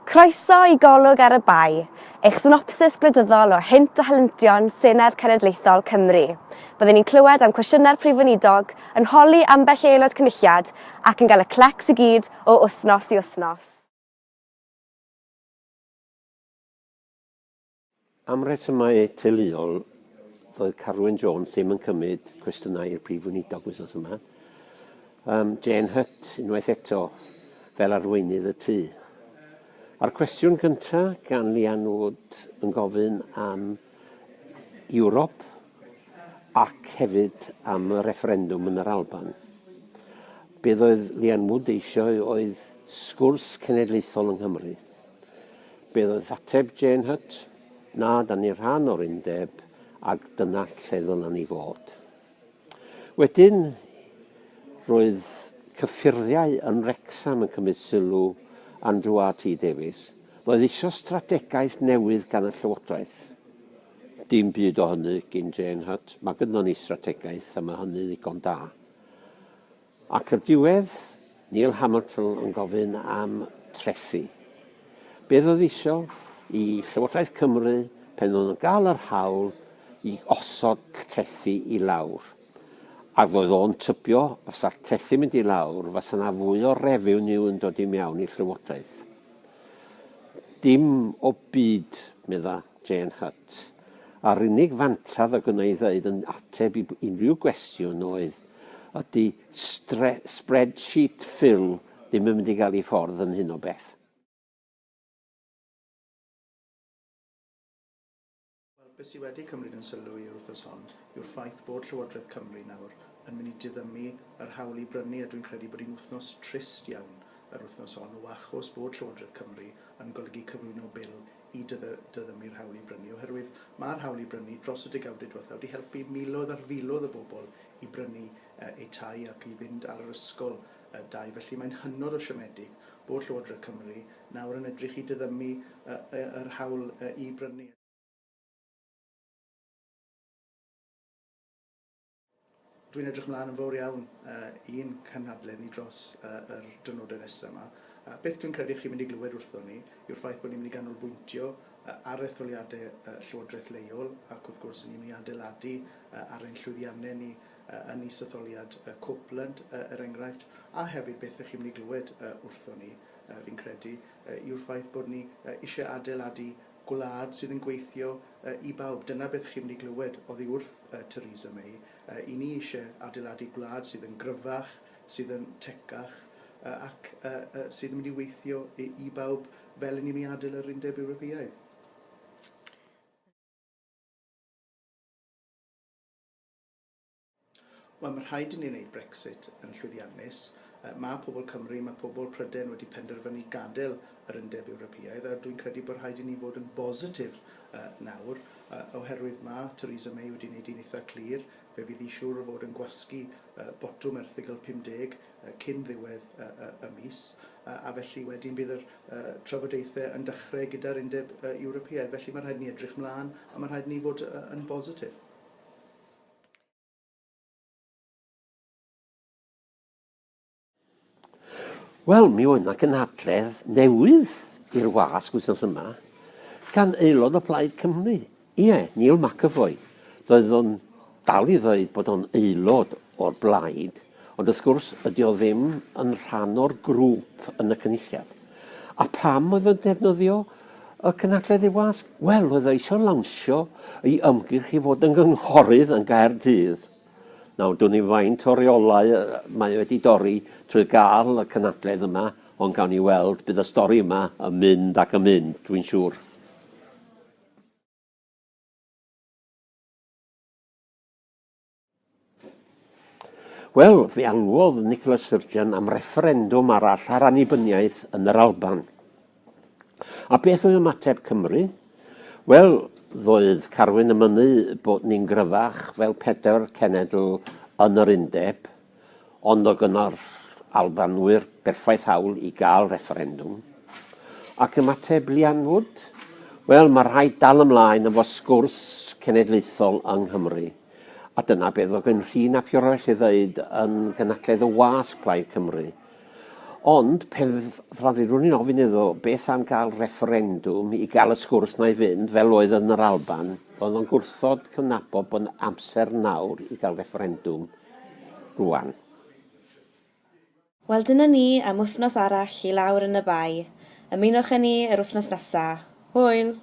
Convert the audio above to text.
Croeso i Golwg ar y Bae, eich synopsis gwleidyddol o hynt a helyntion Senedd Cenedlaethol Cymru. Byddwn ni'n clywed am cwestiynau'r Prif Weinidog, yn holi ambell i Aelod Cynulliad ac yn cael y clecs i gyd o wythnos i wythnos. Am resymau teuluol, doedd Carwyn Jones ddim yn cymryd cwestiynau i'r Prif Weinidog wythnos yma. Um, Jane Hutt, unwaith eto, fel arweinydd y tŷ. A'r cwestiwn gyntaf gan Lian Wood yn gofyn am Ewrop ac hefyd am y refferendwm yn yr Alban. Beth oedd Lian Wood eisiau oedd sgwrs cenedlaethol yng Nghymru. Beth oedd ateb Jane Hutt? Na, da ni rhan o'r undeb ac dyna lle ddylen ni fod. Wedyn, roedd cyffuriau yn Wrecsam yn cymryd sylw Andrew RT Davies. Roedd eisiau strategaeth newydd gan y Llywodraeth. Dim byd o hynny gyn Jane Hutt. Mae gyda ni strategaeth a mae hynny ddigon da. Ac o'r diwedd, Neil Hamilton yn gofyn am trethi. Beth oedd isio i Llywodraeth Cymru pen oedd yn gael yr hawl i osod trethi i lawr? Ac oedd o'n tybio fysa'r trethi mynd i lawr fysa na fwy o refeniw yn dod i mewn i Llywodraeth? Dim o byd, medda. Jane Hutt. A'r unig fantad o gynnau i ddeud yn ateb i unrhyw gwestiwn oedd, ydy spreadsheet Phil ddim yn mynd i gael ei ffordd yn hyn o beth. Wel, beth sydd wedi cymryd yn sylw i yr wythnos hon yw'r ffaith bod Llywodraeth Cymru nawr yn mynd i diddymu yr hawl i brynu a dwi'n credu bod hi'n wythnos trist iawn yr wythnos hon o achos bod Llywodraeth Cymru yn golygu cyflwyno Bil i dyddiau mi'r hawl i brynu, oherwydd mae'r hawl i brynu dros y degawdau diwethaf wedi helpu miloedd ar filoedd o bobl i brynu eu tai ac i fynd ar yr ysgol dai, felly mae'n hynod o siomedig bod Llywodraeth Cymru nawr yn edrych i dyddymu yr hawl i brynu. Dwi'n edrych mlaen yn fawr iawn i'n cynhadledd ni dros yr dyrnodau nesaf 'ma. Beth dwi'n credu chi'n mynd i glywed wrthon ni yw'r ffaith bod ni'n mynd i ganolbwyntio ar etholiadau llywodraeth leol ac wrth gwrs ni'n mynd i adeiladu ar ein llwyddiannau ni yn is-etholiad Copeland er enghraifft a hefyd beth ych chi'n mynd i glywed wrthon ni fi'n credu yw'r ffaith bod ni eisiau adeiladu Gwlad sydd yn gweithio i bawb, dyna beth chi'n mynd i glywed oddi wrth Theresa May. I ni eisiau adeiladu gwlad sydd yn gryfach, sydd yn tecach ac sydd yn mynd i weithio i bawb fel i ni'n mynd i adael yr Undeb Ewropeaidd. Wel, mae rhaid i ni wneud Brexit yn llwyddiannus. Mae pobl Cymru, mae pobl Prydain wedi penderfynu gadael yr Undeb Ewropeaidd a dwi'n credu bod rhaid i ni fod yn bositif nawr oherwydd mae Theresa May wedi wneud hi'n eitha' clir, fe fydd hi siŵr o fod yn gwasgu botwm erthygl 50 cyn ddiwedd y mis a felly wedyn bydd yr trafodaethau yn dechrau gyda'r Undeb Ewropeaidd. Felly, mae rhaid i ni edrych 'mlaen a mae rhaid i ni fod yn bositif. Wel, mi oedd 'na gynhadledd newydd i'r wasg wythnos yma gan aelod o Plaid Cymru. Ie, Neil McEvoy. Doedd o'n dal i ddweud bod o'n aelod o'r blaid, Ond wrth gwrs, ydy o ddim yn rhan o'r grŵp yn y Cynulliad. A pam oedd o'n defnyddio y cynhadledd ei wasg? Wel, oedd o eisiau lawnsio ei ymgyrch i fod yn gynghorydd yn Gaerdydd. Nawr, dwn i'n faint o reolau mae wedi dorri trwy gael y cynhadledd yma, ond gawn ni weld, bydd y stori yma yn mynd ac yn mynd, dwi'n siŵr. Wel, fe alwodd Nicola Sturgeon am refferendwm arall ar annibyniaeth yn yr Alban. A beth oedd ymateb Cymru? Wel, ddoedd Carwyn y mynnu bod ni'n gryfach fel pedair cenedl yn yr undeb, ond o gynnal Albanwyr berffaith hawl i gael refferendwm. Ac ymateb Lian Wood? Wel, mae rhaid dal ymlaen efo sgwrs cenedlaethol yng Nghymru. A dyna beth oedd gen Rhun ap Iorwerth ei ddeud yn gynadledd y wasg Plaid Cymru. Ond pe fyddan i'n ofyn iddo beth am gael refferendwm i gael y sgwrs na'i fynd fel oedd yn yr Alban, oedd o'n gwrthod cydnabod bod amser nawr i gael refferendwm rwan. Wel dyna ni am wythnos arall i lawr yn y Bae. Ymunwch â ni yr wythnos nesa. Hwyl!